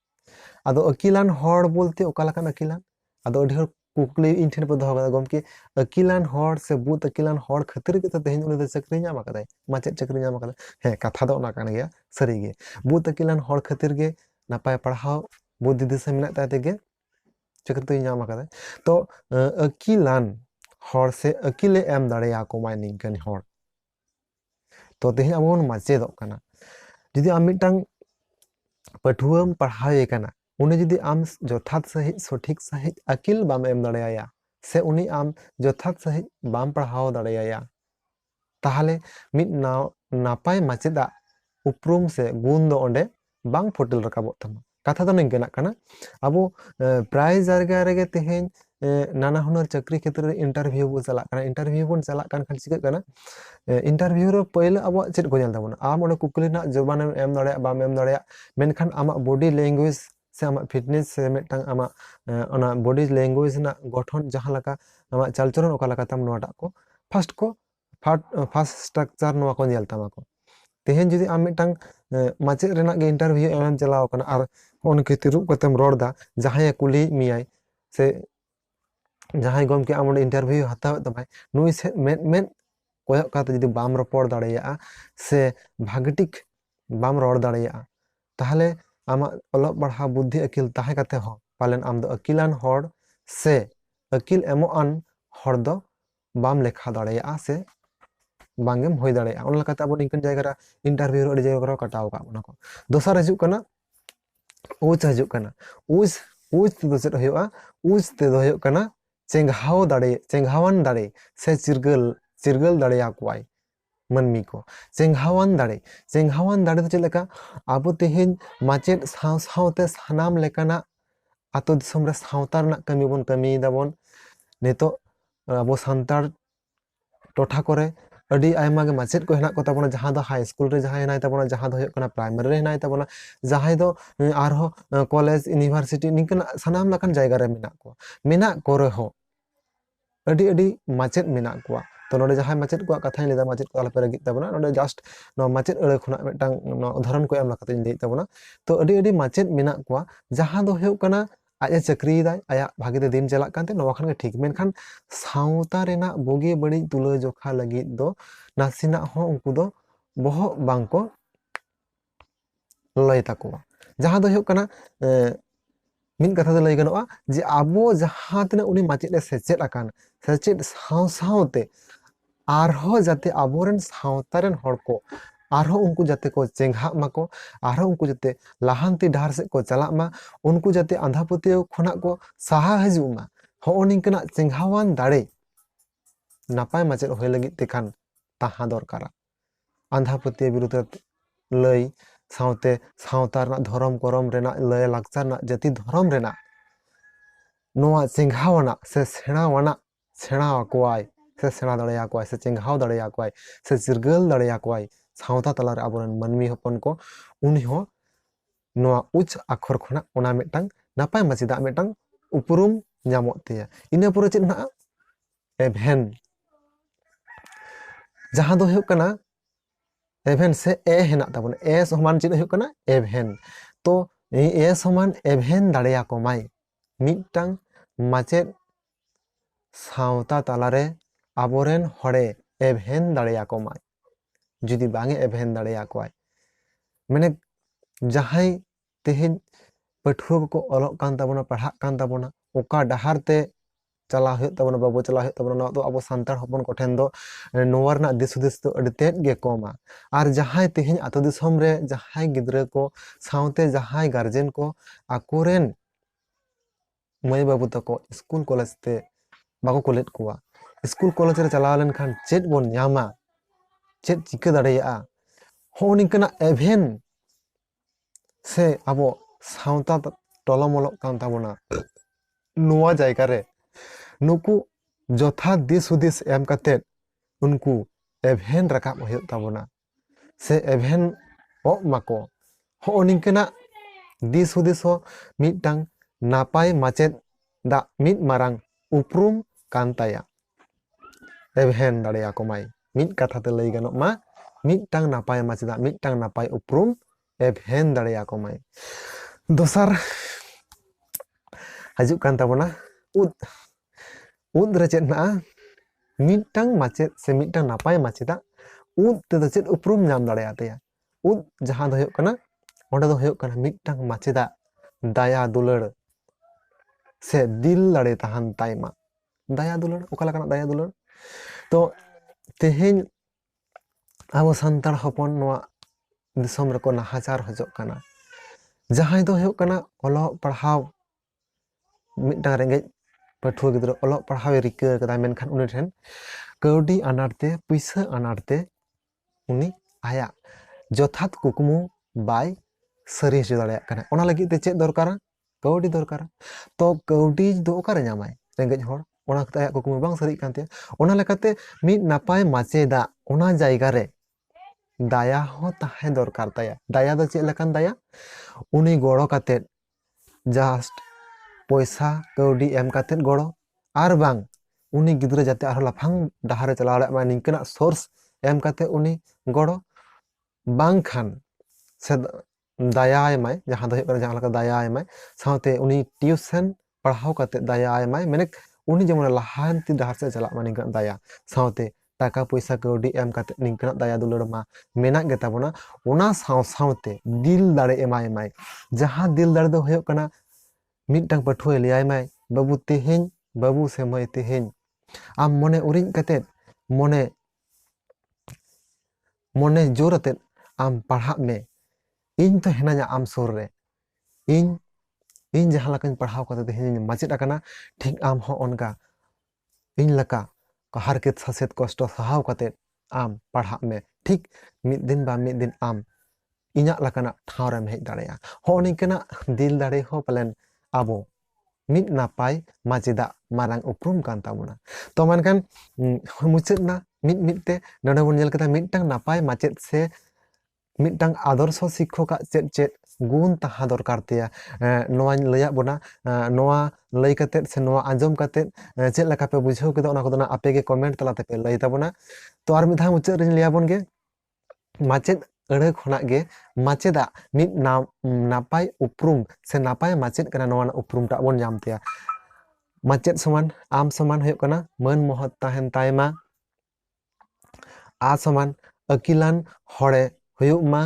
[SPEAKER 1] ᱟᱫᱚ ᱟᱹᱠᱤᱞᱟᱱ ᱦᱚᱲ ᱵᱚᱞᱛᱮ ᱚᱠᱟ ᱞᱮᱠᱟᱱ ᱟᱹᱠᱤᱞᱟᱱ ᱟᱫᱚ ᱟᱹᱰᱤ ᱦᱚᱲ ᱠᱩᱠᱞᱤ ᱤᱧ ᱴᱷᱮᱱ ᱯᱮ ᱫᱚᱦᱚ ᱠᱟᱫᱟ ᱜᱚᱢᱠᱮ ᱟᱹᱠᱤᱞᱟᱱ ᱦᱚᱲ ᱥᱮ ᱵᱩᱫ ᱟᱹᱠᱤᱞᱟᱱ ᱦᱚᱲ ᱠᱷᱟᱹᱛᱤᱨ ᱜᱮᱛᱚ ᱛᱮᱦᱮᱧ ᱩᱱᱤ ᱫᱚ ᱪᱟᱹᱠᱨᱤ ᱧᱟᱢ ᱟᱠᱟᱫᱟᱭ ᱢᱟᱪᱮᱫ ᱪᱟᱹᱠᱨᱤ ᱧᱟᱢ ᱟᱠᱟᱫᱟᱭ ᱦᱮᱸ ᱠᱟᱛᱷᱟ ᱫᱚ ᱚᱱᱟ ᱠᱟᱱ ᱜᱮᱭᱟ ᱥᱟᱹᱨᱤ ᱜᱮ ᱵᱩᱫ ᱟᱹᱠᱤᱞᱟᱱ ᱦᱚᱲ ᱠᱷᱟᱹᱛᱤᱨ ᱜᱮ ᱱᱟᱯᱟᱭ ᱯᱟᱲᱦᱟᱣ ᱵᱩᱫᱽᱫᱷᱤ ᱫᱤᱥᱟᱹ ᱢᱮᱱᱟᱜ ᱛᱟᱭ ᱛᱮᱜᱮ ᱪᱟᱹᱠᱨᱤ ᱫᱚᱭ ᱧᱟᱢ ᱟᱠᱟᱫᱟᱭ ᱛᱚ ᱟᱹᱠᱤᱞᱟᱱ ᱦᱚᱲ ᱥᱮ ᱟᱹᱠᱤᱞᱮ ᱮᱢ ᱫᱟᱲᱮᱭᱟᱠᱚ ᱢᱟᱭ ᱱᱤᱝᱠᱟᱹᱱ ᱦᱚᱲ ᱛᱚ ᱛᱮᱦᱮᱧ ᱟᱵᱚ ᱵᱚᱱ ᱢᱟᱪᱮᱫᱚᱜ ᱠᱟᱱᱟ ᱡᱩᱫᱤ ᱟᱢ ᱢᱤᱫᱴᱟᱝ ᱯᱟᱹᱴᱷᱩᱣᱟᱹᱢ ᱯᱟᱲᱦᱟᱣᱮ ᱠᱟᱱᱟ ᱩᱱᱤ ᱡᱩᱫᱤ ᱟᱢ ᱡᱚᱛᱷᱟᱛ ᱥᱟᱺᱦᱤᱡ ᱥᱚᱴᱷᱤᱠ ᱥᱟᱺᱦᱤᱡ ᱟᱹᱠᱤᱞ ᱵᱟᱢ ᱮᱢ ᱫᱟᱲᱮᱭᱟᱭᱟ ᱥᱮ ᱩᱱᱤ ᱟᱢ ᱡᱚᱛᱷᱟᱛ ᱥᱟᱺᱦᱤᱡ ᱵᱟᱢ ᱯᱟᱲᱦᱟᱣ ᱫᱟᱲᱮᱭᱟᱭᱟ ᱛᱟᱦᱚᱞᱮ ᱢᱤᱫ ᱱᱟᱯᱟᱭ ᱢᱟᱪᱮᱫᱟᱜ ᱩᱯᱨᱩᱢ ᱥᱮ ᱜᱩᱱ ᱫᱚ ᱚᱸᱰᱮ ᱵᱟᱝ ᱯᱷᱩᱴᱮᱞ ᱨᱟᱠᱟᱵᱚᱜ ᱛᱟᱢᱟ ᱠᱟᱛᱷᱟ ᱫᱚ ᱱᱤᱝᱠᱟᱹᱱᱟᱜ ᱠᱟᱱᱟ ᱟᱵᱚ ᱯᱨᱟᱭ ᱡᱟᱭᱜᱟ ᱨᱮᱜᱮ ᱛᱮᱦᱮᱧ ᱱᱟᱱᱟ ᱦᱩᱱᱟᱹᱨ ᱪᱟᱹᱠᱨᱤ ᱠᱷᱮᱛᱨᱮ ᱨᱮ ᱤᱱᱴᱟᱨᱵᱷᱤᱭᱩ ᱵᱚᱱ ᱪᱟᱞᱟᱜ ᱠᱟᱱᱟ ᱤᱱᱴᱟᱨᱵᱷᱤᱭᱩ ᱵᱚᱱ ᱪᱟᱞᱟᱜ ᱠᱟᱱ ᱠᱷᱟᱱ ᱪᱤᱠᱟᱹᱜ ᱠᱟᱱᱟ ᱤᱱᱴᱟᱨᱵᱷᱤᱭᱩ ᱨᱮ ᱯᱳᱭᱞᱳ ᱟᱵᱚᱣᱟᱜ ᱪᱮᱫ ᱠᱚ ᱧᱮᱞ ᱛᱟᱵᱚᱱᱟ ᱟᱢ ᱚᱱᱟ ᱠᱩᱠᱞᱤ ᱨᱮᱱᱟᱜ ᱡᱚᱵᱟᱱᱮᱢ ᱮᱢ ᱫᱟᱲᱮᱭᱟᱜ ᱵᱟᱢ ᱮᱢ ᱫᱟᱲᱮᱭᱟᱜ ᱢᱮᱱᱠᱷᱟᱱ ᱟᱢᱟᱜ ᱵᱚᱰᱤ ᱞᱮᱝᱜᱩᱭᱮᱡᱽ ᱥᱮ ᱟᱢᱟᱜ ᱯᱷᱤᱴᱱᱮᱥ ᱥᱮ ᱢᱤᱫᱴᱟᱝ ᱟᱢᱟᱜ ᱚᱱᱟ ᱵᱚᱰᱤ ᱞᱮᱝᱜᱩᱭᱮᱡᱽ ᱨᱮᱱᱟᱜ ᱜᱚᱴᱷᱚᱱ ᱡᱟᱦᱟᱸ ᱞᱮᱠᱟ ᱟᱢᱟᱜ ᱪᱟᱞᱪᱚᱞᱚᱱ ᱚᱠᱟ ᱞᱮᱠᱟᱛᱟᱢ ᱱᱚᱣᱟᱴᱟᱜ ᱠᱚ ᱯᱷᱟᱥᱴ ᱠᱚ ᱯᱷᱟᱴ ᱯᱷᱟᱥᱴ ᱥᱴᱨᱟᱠᱪᱟᱨ ᱱᱚᱣᱟ ᱠᱚ ᱧᱮᱞ ᱛᱟᱢᱟ ᱠᱚ ᱛᱮᱦᱮᱧ ᱡᱩᱫᱤ ᱟᱢ ᱢᱤᱫᱴᱟᱝ ᱢᱟᱪᱮᱫ ᱨᱮᱱᱟᱜ ᱜᱮ ᱤᱱᱴᱟᱨᱵᱷᱤᱭᱩ ᱮᱢᱮᱢ ᱪᱟᱞᱟᱣ ᱠᱟᱱᱟ ᱟᱨ ᱦᱚᱸᱜᱼᱚ ᱱᱤᱝᱠᱟᱹ ᱛᱤᱨᱩᱵ ᱠᱟᱛᱮᱢ ᱨᱚᱲ ᱫᱟ ᱡᱟᱦᱟᱸᱭᱮ ᱠᱩᱞᱤᱭᱮᱫ ᱢᱮᱭᱟᱭ ᱥᱮ ᱡᱟᱦᱟᱸᱭ ᱜᱚᱢᱠᱮ ᱟᱢ ᱚᱸᱰᱮ ᱤᱱᱴᱟᱨᱵᱷᱤᱭᱩ ᱦᱟᱛᱟᱣᱮᱫ ᱛᱟᱢᱟᱭ ᱱᱩᱭ ᱥᱮᱫ ᱢᱮᱫ ᱢᱮᱫ ᱠᱚᱭᱚᱜ ᱠᱟᱛᱮ ᱡᱩᱫᱤ ᱵᱟᱢ ᱨᱚᱯᱚᱲ ᱫᱟᱲᱮᱭᱟᱜᱼᱟ ᱥᱮ ᱵᱷᱟᱹᱜᱤ ᱴᱷᱤᱠ ᱵᱟᱢ ᱨᱚᱲ ᱫᱟᱲᱮᱭᱟᱜᱼᱟ ᱛᱟᱦᱚᱞᱮ ᱟᱢᱟᱜ ᱚᱞᱚᱜ ᱯᱟᱲᱦᱟᱣ ᱵᱩᱫᱽᱫᱷᱤ ᱟᱹᱠᱤᱞ ᱛᱟᱦᱮᱸ ᱠᱟᱛᱮ ᱦᱚᱸ ᱯᱟᱞᱮᱱ ᱟᱢ ᱫᱚ ᱟᱹᱠᱤᱞᱟᱱ ᱦᱚᱲ ᱥᱮ ᱟᱹᱠᱤᱞ ᱮᱢᱚᱜ ᱟᱱ ᱦᱚᱲ ᱫᱚ ᱵᱟᱢ ᱞᱮᱠᱷᱟ ᱫᱟᱲᱮᱭᱟᱜᱼᱟ ᱥᱮ ᱵᱟᱝᱜᱮᱢ ᱦᱩᱭ ᱫᱟᱲᱮᱭᱟᱜᱼᱟ ᱚᱱᱟ ᱞᱮᱠᱟᱛᱮ ᱟᱵᱚ ᱱᱤᱝᱠᱟᱹᱱ ᱡᱟᱭᱜᱟ ᱨᱮ ᱤᱱᱴᱟᱨᱵᱷᱤᱭᱩ ᱟᱹᱰᱤ ᱡᱟᱭᱜᱟ ᱠᱚᱨᱮ ᱠᱟᱴᱟᱣ ᱠᱟᱜ ᱵᱚᱱᱟ ᱠᱚ ᱫᱚᱥᱟᱨ ᱦᱤᱡᱩᱜ ᱠᱟᱱᱟ ᱩᱪ ᱦᱤᱡᱩᱜ ᱠᱟᱱᱟ ᱩᱪ ᱩᱪ ᱛᱮᱫᱚ ᱪᱮᱫ ᱦᱩᱭᱩᱜᱼᱟ ᱩᱪ ᱛᱮᱫᱚ ᱦᱩᱭᱩᱜ ᱠᱟᱱᱟ ᱪᱮᱸᱜᱷᱟᱣ ᱫᱟᱲᱮ ᱪᱮᱸᱜᱷᱟᱣᱟᱱ ᱫᱟᱲᱮ ᱥᱮ ᱪᱤᱨᱜᱟᱹᱞ ᱪᱤᱨᱜᱟᱹᱞ ᱫᱟᱲᱮᱭᱟᱠᱚᱣᱟᱭ ᱢᱟᱹᱱᱢᱤ ᱠᱚ ᱪᱮᱸᱜᱷᱟᱣᱟᱱ ᱫᱟᱲᱮ ᱪᱮᱸᱜᱷᱟᱣᱟᱱ ᱫᱟᱲᱮ ᱫᱚ ᱪᱮᱫ ᱞᱮᱠᱟ ᱟᱵᱚ ᱛᱮᱦᱮᱧ ᱢᱟᱪᱮᱫ ᱥᱟᱶ ᱥᱟᱶᱛᱮ ᱥᱟᱱᱟᱢ ᱞᱮᱠᱟᱱᱟᱜ ᱟᱛᱳ ᱫᱤᱥᱚᱢ ᱨᱮ ᱥᱟᱶᱛᱟ ᱨᱮᱱᱟᱜ ᱠᱟᱹᱢᱤ ᱵᱚᱱ ᱠᱟᱹᱢᱤᱭ ᱫᱟᱵᱚᱱ ᱱᱤᱛᱚᱜ ᱟᱵᱚ ᱥᱟᱱᱛᱟᱲ ᱴᱚᱴᱷᱟ ᱠᱚᱨᱮ ᱟᱹᱰᱤ ᱟᱭᱢᱟ ᱜᱮ ᱢᱟᱪᱮᱫ ᱠᱚ ᱦᱮᱱᱟᱜ ᱠᱚᱛᱟ ᱵᱚᱱᱟ ᱡᱟᱦᱟᱸ ᱫᱚ ᱦᱟᱭ ᱤᱥᱠᱩᱞ ᱨᱮ ᱡᱟᱦᱟᱸᱭ ᱦᱮᱱᱟᱭ ᱛᱟᱵᱚᱱᱟ ᱡᱟᱦᱟᱸ ᱫᱚ ᱦᱩᱭᱩᱜ ᱠᱟᱱᱟ ᱯᱨᱟᱭᱢᱟᱨᱤ ᱨᱮ ᱦᱮᱱᱟᱭ ᱛᱟᱵᱚᱱᱟ ᱡᱟᱦᱟᱸᱭ ᱫᱚ ᱟᱨᱦᱚᱸ ᱠᱚᱞᱮᱡᱽ ᱤᱭᱩᱱᱤᱵᱷᱟᱨᱥᱤᱴᱤ ᱱᱤᱝᱠᱟᱹᱱᱟᱜ ᱥᱟᱱᱟᱢ ᱞᱮᱠᱟᱱ ᱡᱟᱭᱜᱟ ᱨᱮ ᱢᱮᱱᱟᱜ ᱠᱚᱣᱟ ᱢᱮᱱᱟᱜ ᱠᱚ ᱨᱮᱦᱚᱸ ᱟᱹᱰᱤ ᱟᱹᱰᱤ ᱢᱟᱪᱮᱫ ᱢᱮᱱᱟᱜ ᱠᱚᱣᱟ ᱛᱚ ᱱᱚᱰᱮ ᱡᱟᱦᱟᱸᱭ ᱢᱟᱪᱮᱫ ᱠᱚᱣᱟᱜ ᱠᱟᱛᱷᱟᱧ ᱞᱟᱹᱭᱫᱟ ᱢᱟᱪᱮᱫ ᱠᱚ ᱟᱞᱚᱯᱮ ᱨᱟᱹᱜᱤᱜ ᱛᱟᱵᱚᱱᱟ ᱱᱚᱰᱮ ᱡᱟᱥᱴ ᱱᱚᱣᱟ ᱢᱟᱪᱮᱫ ᱟᱹᱲᱟᱹ ᱠᱷᱚᱱᱟᱜ ᱢᱤᱫᱴᱟᱝ ᱱᱚᱣᱟ ᱩᱫᱟᱦᱚᱨᱚᱱ ᱠᱚ ᱮᱢ ᱞᱮᱠᱟᱛᱮᱧ ᱞᱟᱹᱭᱮᱫ ᱛᱟᱵᱚᱱᱟ ᱛᱚ ᱟᱹᱰᱤ ᱟᱹᱰᱤ ᱢᱟᱪᱮᱫ ᱢᱮᱱᱟᱜ ᱠᱚᱣᱟ ᱡᱟᱦᱟᱸ ᱫᱚ ᱦᱩᱭᱩᱜ ᱠᱟᱱᱟ ᱟᱡ ᱮ ᱪᱟᱹᱠᱨᱤᱭᱮᱫᱟᱭ ᱟᱭᱟᱜ ᱵᱷᱟᱜᱮ ᱛᱮ ᱫᱤᱱ ᱪᱟᱞᱟᱜ ᱠᱟᱱ ᱛᱟᱭᱟ ᱱᱚᱣᱟ ᱠᱷᱟᱱ ᱜᱮ ᱴᱷᱤᱠ ᱢᱮᱱᱠᱷᱟᱱ ᱥᱟᱶᱛᱟ ᱨᱮᱱᱟᱜ ᱵᱩᱜᱤ ᱵᱟᱹᱲᱤᱡ ᱛᱩᱞᱟᱹᱡᱚᱠᱷᱟ ᱞᱟᱹᱜᱤᱫ ᱫᱚ ᱱᱟᱥᱮᱱᱟᱜ ᱦᱚᱸ ᱩᱱᱠᱩ ᱫᱚ ᱵᱚᱦᱚᱜ ᱵᱟᱝᱠᱚ ᱞᱚᱭ ᱛᱟᱠᱚᱣᱟ ᱡᱟᱦᱟᱸ ᱫᱚ ᱦᱩᱭᱩᱜ ᱠᱟᱱᱟ ᱢᱤᱫ ᱠᱟᱛᱷᱟ ᱛᱮ ᱞᱟᱹᱭ ᱜᱟᱱᱚᱜᱼᱟ ᱡᱮ ᱟᱵᱚ ᱡᱟᱦᱟᱸ ᱛᱤᱱᱟᱹᱜ ᱩᱱᱤ ᱢᱟᱪᱮᱫ ᱮ ᱥᱮᱪᱮᱫ ᱟᱠᱟᱱ ᱥᱮᱪᱮᱫ ᱥᱟᱶ ᱥᱟᱶᱛᱮ ᱟᱨᱦᱚᱸ ᱡᱟᱛᱮ ᱟᱵᱚᱨᱮᱱ ᱥᱟᱶᱛᱟ ᱨᱮᱱ ᱦᱚᱲ ᱠᱚ ᱟᱨᱦᱚᱸ ᱩᱱᱠᱩ ᱡᱟᱛᱮ ᱠᱚ ᱪᱮᱸᱜᱷᱟᱜ ᱢᱟᱠᱚ ᱟᱨᱦᱚᱸ ᱩᱱᱠᱩ ᱡᱟᱛᱮ ᱞᱟᱦᱟᱱᱛᱤ ᱰᱟᱦᱟᱨ ᱥᱮᱫ ᱠᱚ ᱪᱟᱞᱟᱜ ᱢᱟ ᱩᱱᱠᱩ ᱡᱟᱛᱮ ᱟᱸᱫᱷᱟ ᱯᱟᱹᱛᱭᱟᱹᱣ ᱠᱷᱚᱱᱟᱜ ᱠᱚ ᱥᱟᱦᱟ ᱦᱤᱡᱩᱜ ᱢᱟ ᱦᱚᱸᱜᱼᱚ ᱱᱤᱝᱠᱟᱱᱟᱜ ᱪᱮᱸᱜᱷᱟᱣᱟᱱ ᱫᱟᱲᱮ ᱱᱟᱯᱟᱭ ᱢᱟᱪᱮᱫ ᱦᱩᱭ ᱞᱟᱹᱜᱤᱫ ᱛᱮᱠᱷᱟᱱ ᱛᱟᱦᱮᱸ ᱫᱚᱨᱠᱟᱨᱟ ᱟᱸᱫᱷᱟ ᱯᱟᱹᱛᱭᱟᱹᱣ ᱵᱤᱨᱩᱫᱷ ᱨᱮ ᱞᱟᱹᱭ ᱥᱟᱶᱛᱮ ᱥᱟᱶᱛᱟ ᱨᱮᱱᱟᱜ ᱫᱷᱚᱨᱚᱢ ᱠᱚᱨᱚᱢ ᱨᱮᱱᱟᱜ ᱞᱟᱹᱭ ᱞᱟᱠᱪᱟᱨ ᱨᱮᱱᱟᱜ ᱡᱟᱹᱛᱤ ᱫᱷᱚᱨᱚᱢ ᱨᱮᱱᱟᱜ ᱱᱚᱣᱟ ᱪᱮᱸᱜᱷᱟᱣ ᱟᱱᱟᱜ ᱥᱮ ᱥᱮᱬᱟ ᱟᱱᱟᱜ ᱥᱮᱬᱟ ᱟᱠᱚᱣᱟᱭ ᱥᱮ ᱥᱮᱬᱟ ᱫᱟᱲᱮ ᱟᱠᱚᱣᱟᱭ ᱥᱮ ᱪᱮᱸᱜᱷᱟᱣ ᱫᱟᱲᱮ ᱟᱠᱚᱣᱟᱭ ᱥᱮ ᱪᱤᱨᱜᱟᱹᱞ ᱫᱟᱲᱮ ᱟᱠᱚᱣᱟᱭ ᱥᱟᱶᱛᱟ ᱛᱟᱞᱟᱨᱮ ᱟᱵᱚ ᱨᱮᱱ ᱢᱟᱹᱱᱢᱤ ᱦᱚᱯᱚᱱ ᱠᱚ ᱩᱱᱤ ᱦᱚᱸ ᱱᱚᱣᱟ ᱩᱪ ᱟᱠᱷᱚᱨ ᱠᱷᱚᱱᱟᱜ ᱚᱱᱟ ᱢᱤᱫᱴᱟᱝ ᱱᱟᱯᱟᱭ ᱢᱟᱪᱮᱫᱟᱜ ᱢᱤᱫᱴᱟᱝ ᱩᱯᱨᱩᱢ ᱧᱟᱢᱚᱜ ᱛᱟᱭᱟ ᱤᱱᱟᱹ ᱯᱚᱨᱮ ᱪᱮᱫ ᱢᱮᱱᱟᱜᱼᱟ ᱮᱵᱷᱮᱱ ᱡᱟᱦᱟᱸ ᱫᱚ ᱦᱩᱭᱩᱜ ᱠᱟᱱᱟ ᱮᱵᱷᱮᱱ ᱥᱮ ᱮ ᱦᱮᱱᱟᱜ ᱛᱟᱵᱚᱱᱟ ᱮ ᱥᱚᱢᱟᱱ ᱪᱮᱫ ᱦᱩᱭᱩᱜ ᱠᱟᱱᱟ ᱮᱵᱷᱮᱱ ᱛᱚ ᱮ ᱥᱚᱢᱟᱱ ᱮᱵᱷᱮᱱ ᱫᱟᱲᱮᱭᱟᱠᱚ ᱢᱟᱭ ᱢᱤᱫᱴᱟᱝ ᱢᱟᱪᱮᱫ ᱥᱟᱶᱛᱟ ᱛᱟᱞᱟᱨᱮ ᱟᱵᱚᱨᱮᱱ ᱦᱚᱲᱮ ᱮᱵᱷᱮᱱ ᱫᱟᱲᱮᱭᱟᱠᱚ ᱢᱟᱭ ᱡᱩᱫᱤ ᱵᱟᱝᱮ ᱮᱵᱷᱮᱱ ᱫᱟᱲᱮᱭᱟᱠᱚᱣᱟᱭ ᱢᱟᱱᱮ ᱡᱟᱦᱟᱸᱭ ᱛᱮᱦᱮᱧ ᱯᱟᱹᱴᱷᱩᱣᱟᱹ ᱠᱚᱠᱚ ᱚᱞᱚᱜ ᱠᱟᱱ ᱛᱟᱵᱚᱱᱟ ᱯᱟᱲᱦᱟᱜ ᱠᱟᱱ ᱛᱟᱵᱚᱱᱟ ᱚᱠᱟ ᱰᱟᱦᱟᱨ ᱛᱮ ᱪᱟᱞᱟᱣ ᱦᱩᱭᱩᱜ ᱛᱟᱵᱚᱱᱟ ᱵᱟᱵᱚ ᱪᱟᱞᱟᱣ ᱦᱩᱭᱩᱜ ᱛᱟᱵᱚᱱᱟ ᱱᱚᱣᱟ ᱫᱚ ᱟᱵᱚ ᱥᱟᱱᱛᱟᱲ ᱦᱚᱯᱚᱱ ᱠᱚᱴᱷᱮᱱ ᱫᱚ ᱱᱚᱣᱟ ᱨᱮᱱᱟᱜ ᱫᱤᱥ ᱦᱩᱫᱤᱥ ᱫᱚ ᱟᱹᱰᱤ ᱛᱮᱫ ᱜᱮ ᱠᱚᱢᱟ ᱟᱨ ᱡᱟᱦᱟᱸᱭ ᱛᱮᱦᱮᱧ ᱟᱛᱳ ᱫᱤᱥᱚᱢ ᱨᱮ ᱡᱟᱦᱟᱸᱭ ᱜᱤᱫᱽᱨᱟᱹ ᱠᱚ ᱥᱟᱶᱛᱮ ᱡᱟᱦᱟᱸᱭ ᱜᱟᱨᱡᱮᱱ ᱠᱚ ᱟᱠᱚᱨᱮᱱ ᱢᱟᱹᱭ ᱵᱟᱹᱵᱩ ᱛᱟᱠᱚ ᱥᱠᱩᱞ ᱠᱚᱞᱮᱡᱽ ᱛᱮ ᱵᱟᱠᱚ ᱠᱳᱞᱮᱫ ᱠᱚᱣᱟ ᱥᱠᱩᱞ ᱠᱚᱞᱮᱡᱽ ᱨᱮ ᱪᱟᱞᱟᱣ ᱞᱮᱱᱠᱷᱟᱱ ᱪᱮᱫ ᱵᱚᱱ ᱧᱟᱢᱟ ᱪᱮᱫ ᱪᱤᱠᱟᱹ ᱫᱟᱲᱮᱭᱟᱜᱼᱟ ᱦᱚᱸᱜᱼᱚ ᱱᱤᱝᱠᱟᱹᱱᱟᱜ ᱮᱵᱷᱮᱱ ᱥᱮ ᱟᱵᱚ ᱥᱟᱶᱛᱟ ᱫᱚ ᱴᱚᱞᱚᱢᱚᱞᱚᱜ ᱠᱟᱱ ᱛᱟᱵᱚᱱᱟ ᱱᱚᱣᱟ ᱡᱟᱭᱜᱟ ᱨᱮ ᱱᱩᱠᱩ ᱡᱚᱛᱷᱟᱛ ᱫᱤᱥ ᱦᱩᱫᱤᱥ ᱮᱢ ᱠᱟᱛᱮ ᱩᱱᱠᱩ ᱮᱵᱷᱮᱱ ᱨᱟᱠᱟᱵ ᱦᱩᱭᱩᱜ ᱛᱟᱵᱚᱱᱟ ᱥᱮ ᱮᱵᱷᱮᱱ ᱚᱜ ᱢᱟᱠᱚ ᱦᱚᱸᱜᱼᱚ ᱱᱤᱝᱠᱟᱹᱱᱟᱜ ᱫᱤᱥ ᱦᱩᱫᱤᱥ ᱦᱚᱸ ᱢᱤᱫᱴᱟᱝ ᱱᱟᱯᱟᱭ ᱢᱟᱪᱮᱫ ᱫᱟᱜ ᱢᱤᱫ ᱢᱟᱨᱟᱝ ᱩᱯᱨᱩᱢ ᱠᱟᱱ ᱛᱟᱭᱟ ᱮᱵᱷᱮᱱ ᱫᱟᱲᱮ ᱟᱠᱚ ᱢᱟᱭ ᱢᱤᱫ ᱠᱟᱛᱷᱟ ᱛᱮ ᱞᱟᱹᱭ ᱜᱟᱱᱚᱜ ᱢᱟ ᱢᱤᱫᱴᱟᱝ ᱱᱟᱯᱟᱭ ᱢᱟᱪᱮᱫᱟᱜ ᱢᱤᱫᱴᱟᱝ ᱱᱟᱯᱟᱭ ᱩᱯᱨᱩᱢ ᱮᱵᱷᱮᱱ ᱫᱟᱲᱮ ᱟᱠᱚ ᱢᱟᱭ ᱫᱚᱥᱟᱨ ᱦᱤᱡᱩᱜ ᱠᱟᱱ ᱛᱟᱵᱚᱱᱟ ᱩᱫ ᱩᱫ ᱨᱮ ᱪᱮᱫ ᱢᱮᱱᱟᱜᱼᱟ ᱢᱤᱫᱴᱟᱝ ᱢᱟᱪᱮᱫ ᱥᱮ ᱢᱤᱫᱴᱟᱝ ᱱᱟᱯᱟᱭ ᱢᱟᱪᱮᱫᱟᱜ ᱩᱫ ᱛᱮᱫᱚ ᱪᱮᱫ ᱩᱯᱨᱩᱢ ᱧᱟᱢ ᱫᱟᱲᱮᱭᱟᱛᱟᱭᱟ ᱩᱫ ᱡᱟᱦᱟᱸ ᱫᱚ ᱦᱩᱭᱩᱜ ᱠᱟᱱᱟ ᱚᱸᱰᱮ ᱫᱚ ᱦᱩᱭᱩᱜ ᱠᱟᱱᱟ ᱢᱤᱫᱴᱟᱝ ᱢᱟᱪᱮᱫᱟᱜ ᱫᱟᱭᱟ ᱫᱩᱞᱟᱹᱲ ᱥᱮ ᱫᱤᱞ ᱫᱟᱲᱮ ᱛᱟᱦᱮᱱ ᱛᱟᱭ ᱢᱟ ᱫᱟᱭᱟ ᱫᱩᱞᱟᱹᱲ ᱚᱠᱟ ᱞᱮᱠᱟᱱᱟᱜ ᱫᱟᱭᱟ ᱫᱩᱞᱟᱹᱲ ᱛᱚ ᱛᱮᱦᱮᱧ ᱟᱵᱚ ᱥᱟᱱᱛᱟᱲ ᱦᱚᱯᱚᱱ ᱱᱚᱣᱟ ᱫᱤᱥᱚᱢ ᱨᱮᱠᱚ ᱱᱟᱦᱟᱪᱟᱨ ᱦᱚᱪᱚᱜ ᱠᱟᱱᱟ ᱡᱟᱦᱟᱸᱭ ᱫᱚ ᱦᱩᱭᱩᱜ ᱠᱟᱱᱟ ᱚᱞᱚᱜ ᱯᱟᱲᱦᱟᱣ ᱢᱤᱫᱴᱟᱝ ᱨᱮᱸᱜᱮᱡ ᱯᱟᱹᱴᱷᱩᱣᱟᱹ ᱜᱤᱫᱽᱨᱟᱹ ᱚᱞᱚᱜ ᱯᱟᱲᱦᱟᱣᱮ ᱨᱤᱠᱟᱹ ᱟᱠᱟᱫᱟ ᱢᱮᱱᱠᱷᱟᱱ ᱩᱱᱤ ᱴᱷᱮᱱ ᱠᱟᱹᱣᱰᱤ ᱟᱱᱟᱴ ᱛᱮ ᱯᱩᱭᱥᱟᱹ ᱟᱱᱟᱴ ᱛᱮ ᱩᱱᱤ ᱟᱭᱟᱜ ᱡᱚᱛᱷᱟᱛ ᱠᱩᱠᱢᱩ ᱵᱟᱭ ᱥᱟᱹᱨᱤ ᱦᱚᱪᱚ ᱫᱟᱲᱮᱭᱟᱜ ᱠᱟᱱᱟ ᱚᱱᱟ ᱞᱟᱹᱜᱤᱫ ᱛᱮ ᱪᱮᱫ ᱫᱚᱨᱠᱟᱨᱟ ᱠᱟᱹᱣᱰᱤ ᱫᱚᱨᱠᱟᱨᱟ ᱛᱚ ᱠᱟᱹᱣᱰᱤ ᱫᱚ ᱚᱠᱟᱨᱮ ᱧᱟᱢᱟᱭ ᱨᱮᱸᱜᱮᱡ ᱦᱚᱲ ᱚᱱᱟ ᱠᱟᱛᱮ ᱟᱭᱟᱜ ᱠᱩᱠᱢᱩ ᱵᱟᱝ ᱥᱟᱹᱨᱤᱜ ᱠᱟᱱ ᱛᱟᱭᱟ ᱚᱱᱟ ᱞᱮᱠᱟᱛᱮ ᱢᱤᱫ ᱱᱟᱯᱟᱭ ᱢᱟᱪᱮᱫᱟᱜ ᱚᱱᱟ ᱡᱟᱭᱜᱟ ᱨᱮ ᱫᱟᱭᱟ ᱦᱚᱸ ᱛᱟᱦᱮᱸ ᱫᱚᱨᱠᱟᱨ ᱛᱟᱭᱟ ᱫᱟᱭᱟ ᱫᱚ ᱪᱮᱫ ᱞᱮᱠᱟᱱ ᱫᱟᱭᱟ ᱩᱱᱤ ᱜᱚᱲᱚ ᱠᱟᱛᱮ ᱡᱟᱥᱴ ᱯᱚᱭᱥᱟ ᱠᱟᱹᱣᱰᱤ ᱮᱢ ᱠᱟᱛᱮᱫ ᱜᱚᱲᱚ ᱟᱨ ᱵᱟᱝ ᱩᱱᱤ ᱜᱤᱫᱽᱨᱟᱹ ᱡᱟᱛᱮ ᱟᱨᱦᱚᱸ ᱞᱟᱯᱷᱟᱝ ᱰᱟᱦᱟᱨ ᱨᱮ ᱪᱟᱞᱟᱣ ᱫᱟᱲᱮᱭᱟᱜ ᱢᱟ ᱱᱤᱝᱠᱟᱹᱱᱟᱜ ᱥᱳᱨᱥ ᱮᱢ ᱠᱟᱛᱮᱫ ᱩᱱᱤ ᱜᱚᱲᱚ ᱵᱟᱝᱠᱷᱟᱱ ᱥᱮ ᱫᱟᱭᱟᱭ ᱢᱟᱭ ᱡᱟᱦᱟᱸ ᱫᱚ ᱦᱩᱭᱩᱜ ᱠᱟᱱᱟ ᱡᱟᱦᱟᱸ ᱞᱮᱠᱟ ᱫᱟᱭᱟᱭ ᱢᱟᱭ ᱥᱟᱶᱛᱮ ᱩᱱᱤ ᱴᱤᱭᱩᱥᱮᱱ ᱯᱟᱲᱦᱟᱣ ᱠᱟᱛᱮᱫ ᱫᱟᱭᱟᱭ ᱢᱟᱭ ᱢᱟᱱᱮ ᱩᱱᱤ ᱡᱮᱢᱚᱱ ᱞᱟᱦᱟᱱᱛᱤ ᱰᱟᱦᱟᱨ ᱥᱮᱫ ᱪᱟᱞᱟᱜ ᱢᱟ ᱱᱤᱝᱠᱟᱹᱱᱟᱜ ᱫᱟᱭᱟ ᱥᱟᱶᱛᱮ ᱴᱟᱠᱟ ᱯᱚᱭᱥᱟ ᱠᱟᱹᱣᱰᱤ ᱮᱢ ᱠᱟᱛᱮ ᱱᱤᱝᱠᱟᱹᱱᱟᱜ ᱫᱟᱭᱟ ᱫᱩᱞᱟᱹᱲ ᱢᱟ ᱢᱮᱱᱟᱜ ᱜᱮ ᱛᱟᱵᱚᱱᱟ ᱚᱱᱟ ᱥᱟᱶ ᱥᱟᱶᱛᱮ ᱫᱤᱞ ᱫᱟᱲᱮ ᱮᱢᱟᱭ ᱢᱟᱭ ᱡᱟᱦᱟᱸ ᱫᱤᱞ ᱫᱟᱲᱮ ᱫᱚ ᱦᱩᱭᱩᱜ ᱠᱟᱱᱟ ᱢᱤᱫᱴᱟᱝ ᱯᱟᱹᱴᱷᱩᱣᱟᱹᱭ ᱞᱟᱹᱭᱟᱭ ᱢᱟᱭ ᱵᱟᱹᱵᱩ ᱛᱮᱦᱮᱧ ᱵᱟᱹᱵᱩ ᱥᱮ ᱢᱟᱹᱭ ᱛᱮᱦᱮᱧ ᱟᱢ ᱢᱚᱱᱮ ᱩᱨᱤᱧ ᱠᱟᱛᱮ ᱢᱚᱱᱮ ᱢᱚᱱᱮ ᱡᱳᱨ ᱟᱛᱮ ᱟᱢ ᱯᱟᱲᱦᱟᱜ ᱢᱮ ᱤᱧ ᱛᱚ ᱦᱮᱱᱟᱧᱟ ᱟᱢ ᱥᱩᱨ ᱨᱮ ᱤᱧ ᱤᱧ ᱡᱟᱦᱟᱸ ᱞᱮᱠᱟᱧ ᱯᱟᱲᱦᱟᱣ ᱠᱟᱛᱮ ᱛᱮᱦᱮᱧ ᱢᱟᱪᱮᱫ ᱟᱠᱟᱱᱟ ᱴᱷᱤᱠ ᱟᱢ ᱦᱚᱸ ᱚᱱᱠᱟ ᱤᱧ ᱞᱮᱠᱟ ᱦᱟᱨᱠᱮᱛ ᱥᱟᱥᱮᱛ ᱠᱚᱥᱴᱚ ᱥᱟᱦᱟᱣ ᱠᱟᱛᱮ ᱟᱢ ᱯᱟᱲᱦᱟᱜ ᱢᱮ ᱴᱷᱤᱠ ᱢᱤᱫ ᱫᱤᱱ ᱵᱟᱝ ᱢᱤᱫ ᱫᱤᱱ ᱟᱢ ᱤᱧᱟᱹᱜ ᱞᱮᱠᱟᱱᱟᱜ ᱴᱷᱟᱶ ᱨᱮᱢ ᱦᱮᱡ ᱫᱟᱲᱮᱭᱟᱜᱼᱟ ᱦᱚᱸᱜᱼᱚ ᱱᱤᱝᱠᱟᱹᱱᱟᱜ ᱫᱤᱞ ᱫᱟᱲᱮ ᱦᱚᱸ ᱯᱟᱞᱮᱱ ᱟᱵᱚ ᱢᱤᱫ ᱱᱟᱯᱟᱭ ᱢᱟᱪᱮᱫᱟᱜ ᱢᱟᱨᱟᱝ ᱩᱯᱨᱩᱢ ᱠᱟᱱ ᱛᱟᱵᱚᱱᱟ ᱛᱚ ᱢᱮᱱᱠᱷᱟᱱ ᱢᱩᱪᱟᱹᱫ ᱮᱱᱟ ᱢᱤᱫ ᱢᱤᱫ ᱛᱮ ᱱᱚᱰᱮ ᱵᱚᱱ ᱧᱮᱞ ᱠᱮᱫᱟ ᱢᱤᱫᱴᱟᱝ ᱱᱟᱯᱟᱭ ᱢᱟᱪᱮᱫ ᱥᱮ ᱢᱤᱫᱴᱟᱝ ᱟᱫᱚᱨᱥᱚ ᱥᱤᱠᱠᱷᱚᱠᱟᱜ ᱪᱮᱫ ᱪᱮᱫ ᱜᱩᱱ ᱛᱟᱦᱮᱸ ᱫᱚᱨᱠᱟᱨ ᱛᱟᱭᱟ ᱱᱚᱣᱟᱧ ᱞᱟᱹᱭᱟᱫ ᱵᱚᱱᱟ ᱱᱚᱣᱟ ᱞᱟᱹᱭ ᱠᱟᱛᱮᱫ ᱥᱮ ᱱᱚᱣᱟ ᱟᱸᱡᱚᱢ ᱠᱟᱛᱮᱫ ᱪᱮᱫ ᱞᱮᱠᱟ ᱯᱮ ᱵᱩᱡᱷᱟᱹᱣ ᱠᱮᱫᱟ ᱚᱱᱟ ᱠᱚᱫᱚ ᱟᱯᱮ ᱜᱮ ᱠᱚᱢᱮᱱᱴ ᱛᱟᱞᱟ ᱛᱮᱯᱮ ᱞᱟᱹᱭ ᱛᱟᱵᱚᱱᱟ ᱛᱚ ᱟᱨ ᱢᱤᱫ ᱫᱷᱟᱣ ᱢᱩᱪᱟᱹᱫ ᱨᱤᱧ ᱞᱟᱹᱭ ᱟᱵᱚᱱ ᱜᱮ ᱢᱟᱪᱮᱫ ᱟᱹᱲᱟᱹ ᱠᱷᱚᱱᱟᱜ ᱜᱮ ᱢᱟᱪᱮᱫᱟᱜ ᱢᱤᱫ ᱱᱟᱯᱟᱭ ᱩᱯᱨᱩᱢ ᱥᱮ ᱱᱟᱯᱟᱭ ᱢᱟᱪᱮᱫ ᱠᱟᱱᱟ ᱱᱚᱣᱟ ᱨᱮᱱᱟᱜ ᱩᱯᱨᱩᱢᱴᱟᱜ ᱵᱚᱱ ᱧᱟᱢ ᱛᱟᱭᱟ ᱢᱟᱪᱮᱫ ᱥᱚᱢᱟᱱ ᱟᱢ ᱥᱚᱢᱟᱱ ᱦᱩᱭᱩᱜ ᱠᱟᱱᱟ ᱢᱟᱹᱱ ᱢᱚᱦᱚᱛ ᱛᱟᱦᱮᱱ ᱛᱟᱭᱢᱟ ᱟᱥᱚᱢᱟᱱ ᱟᱹᱠᱤᱞᱟᱱ ᱦᱚᱲᱮ ᱦᱩᱭᱩᱜ ᱢᱟ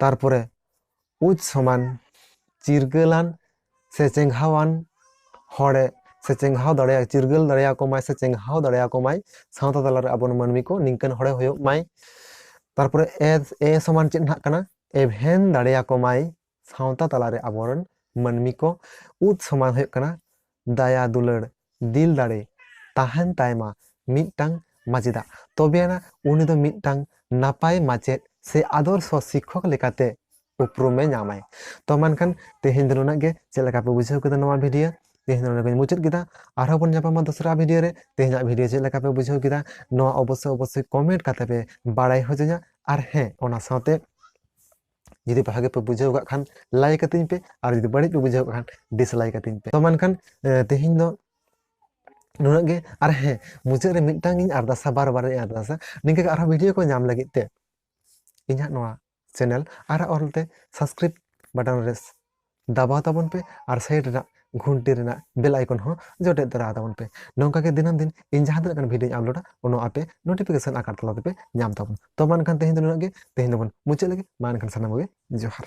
[SPEAKER 1] ᱛᱟᱨᱯᱚᱨᱮ ᱩᱪ ᱥᱚᱢᱟᱱ ᱪᱤᱨᱜᱟᱹᱞᱟᱱ ᱥᱮ ᱪᱮᱸᱜᱷᱟᱣᱟᱱ ᱦᱚᱲᱮ ᱥᱮ ᱪᱮᱸᱜᱷᱟᱣ ᱫᱟᱲᱮᱭᱟ ᱪᱤᱨᱜᱟᱹᱞ ᱫᱟᱲᱮᱭᱟᱠᱚ ᱢᱟᱭ ᱥᱮ ᱪᱮᱸᱜᱷᱟᱣ ᱫᱟᱲᱮᱭᱟᱠᱚ ᱢᱟᱭ ᱥᱟᱶᱛᱟ ᱛᱟᱞᱟᱨᱮ ᱟᱵᱚ ᱢᱟᱹᱱᱢᱤ ᱠᱚ ᱱᱤᱝᱠᱟᱹᱱ ᱦᱚᱲᱮ ᱦᱩᱭᱩᱜ ᱢᱟᱭ ᱛᱟᱨᱯᱚᱨᱮ ᱮ ᱮ ᱥᱚᱢᱟᱱ ᱪᱮᱫ ᱱᱟᱦᱟᱜ ᱠᱟᱱᱟ ᱮᱵᱷᱮᱱ ᱫᱟᱲᱮᱭᱟᱠᱚ ᱢᱟᱭ ᱥᱟᱶᱛᱟ ᱛᱟᱞᱟᱨᱮ ᱟᱵᱚᱨᱮᱱ ᱢᱟᱹᱱᱢᱤ ᱠᱚ ᱩᱫ ᱥᱚᱢᱟᱱ ᱦᱩᱭᱩᱜ ᱠᱟᱱᱟ ᱫᱟᱭᱟ ᱫᱩᱞᱟᱹᱲ ᱫᱤᱞ ᱫᱟᱲᱮ ᱛᱟᱦᱮᱱ ᱛᱟᱭᱢᱟ ᱢᱤᱫᱴᱟᱝ ᱢᱟᱪᱮᱫᱟᱜ ᱛᱚᱵᱮ ᱟᱱᱟ ᱩᱱᱤ ᱫᱚ ᱢᱤᱫᱴᱟᱝ ᱱᱟᱯᱟᱭ ᱢᱟᱪᱮᱫ ᱥᱮ ᱟᱫᱚᱨᱥᱚ ᱥᱤᱠᱠᱷᱚᱠ ᱞᱮᱠᱟᱛᱮ ᱩᱯᱨᱩᱢ ᱮ ᱧᱟᱢᱟᱭ ᱛᱚ ᱢᱮᱱᱠᱷᱟᱱ ᱛᱮᱦᱮᱧ ᱫᱚ ᱱᱩᱱᱟᱹᱜ ᱜᱮ ᱪᱮᱫ ᱞᱮᱠᱟ ᱯᱮ ᱵᱩᱡᱷᱟᱹᱣ ᱠᱮᱫᱟ ᱱᱚᱣᱟ ᱵᱷᱤᱰᱤᱭᱳ ᱛᱮᱦᱮᱧ ᱱᱚᱰᱮ ᱜᱮᱧ ᱢᱩᱪᱟᱹᱫ ᱠᱮᱫᱟ ᱟᱨᱦᱚᱸ ᱵᱚᱱ ᱧᱟᱯᱟᱢᱟ ᱫᱚᱥᱨᱟ ᱵᱷᱤᱰᱤᱭᱳ ᱨᱮ ᱛᱮᱦᱮᱧᱟᱜ ᱵᱷᱤᱰᱤᱭᱳ ᱪᱮᱫ ᱞᱮᱠᱟ ᱯᱮ ᱵᱩᱡᱷᱟᱹᱣ ᱠᱮᱫᱟ ᱱᱚᱣᱟ ᱚᱵᱚᱥᱥᱳᱭ ᱚᱵᱚᱥᱥᱳᱭ ᱠᱚᱢᱮᱱᱴ ᱠᱟᱛᱮ ᱯᱮ ᱵᱟᱲᱟᱭ ᱦᱚᱪᱚᱧᱟ ᱟᱨ ᱦᱮᱸ ᱚᱱᱟ ᱥᱟᱶᱛᱮ ᱡᱩᱫᱤ ᱵᱷᱟᱜᱮ ᱯᱮ ᱵᱩᱡᱷᱟᱹᱣ ᱠᱟᱜ ᱠᱷᱟᱱ ᱞᱟᱭᱤᱠ ᱟᱹᱛᱤᱧ ᱯᱮ ᱟᱨ ᱡᱩᱫᱤ ᱵᱟᱹᱲᱤᱡ ᱯᱮ ᱵᱩᱡᱷᱟᱹᱣ ᱠᱟᱜ ᱠᱷᱟᱱ ᱰᱤᱥᱞᱟᱭᱤᱠ ᱟᱹᱛᱤᱧ ᱯᱮ ᱛᱚ ᱢᱮᱱᱠᱷᱟᱱ ᱛᱮᱦᱮᱧ ᱫᱚ ᱱᱩᱱᱟᱹᱜ ᱜᱮ ᱟᱨ ᱦᱮᱸ ᱢᱩᱪᱟᱹᱫ ᱨᱮ ᱢᱤᱫᱴᱟᱝ ᱤᱧ ᱟᱨᱫᱟᱥᱟ ᱵᱟᱨ ᱵᱟᱨ ᱤᱧ ᱟᱨᱫᱟᱥᱟ ᱱᱤᱝᱠᱟᱹ ᱜᱮ ᱟᱨᱦᱚᱸ ᱵᱷᱤᱰᱤᱭᱳ ᱠᱚ ᱧᱟᱢ ᱞᱟᱹᱜᱤᱫ ᱛᱮ ᱤᱧᱟᱹᱜ ᱱᱚᱣᱟ ᱪᱮᱱᱮᱞ ᱟᱨ ᱚᱞᱛᱮ ᱥᱟᱵᱥᱠᱨᱟᱭᱤᱵ ᱵᱟᱴᱚᱱ ᱨᱮ ᱫᱟᱵᱟᱣ ᱛᱟᱵᱚᱱ ᱯᱮ ᱟᱨ ᱥᱟᱭᱤᱰ ᱨᱮᱱᱟᱜ ᱜᱷᱩᱱᱴᱤ ᱨᱮᱱᱟᱜ ᱵᱮᱞ ᱟᱭᱠᱚᱱ ᱦᱚᱸ ᱡᱚᱴᱮᱫ ᱫᱚᱨᱟ ᱛᱟᱵᱚᱱ ᱯᱮ ᱱᱚᱝᱠᱟ ᱜᱮ ᱫᱤᱱᱟᱹᱢ ᱫᱤᱱ ᱤᱧ ᱡᱟᱦᱟᱸ ᱛᱤᱱᱟᱹᱜ ᱜᱟᱱ ᱵᱷᱤᱰᱤᱭᱳᱧ ᱟᱯᱞᱳᱰᱟ ᱚᱱᱟ ᱟᱯᱮ ᱱᱳᱴᱤᱯᱷᱤᱠᱮᱥᱚᱱ ᱟᱠᱟᱨ ᱛᱟᱞᱟ ᱛᱮᱯᱮ ᱧᱟᱢ ᱛᱟᱵᱚᱱ ᱛᱚ ᱢᱟ ᱮᱱᱠᱷᱟᱱ ᱛᱮᱦᱮᱧ ᱫᱚ ᱱᱩᱱᱟᱹᱜ ᱜᱮ ᱛᱮᱦᱮᱧ ᱫᱚᱵᱚᱱ ᱢᱩᱪᱟᱹᱫ ᱞᱮᱜᱮ ᱢᱟ ᱮᱱᱠᱷᱟᱱ ᱥᱟᱱᱟᱢ ᱠᱚᱜᱮ ᱡᱚᱦᱟᱨ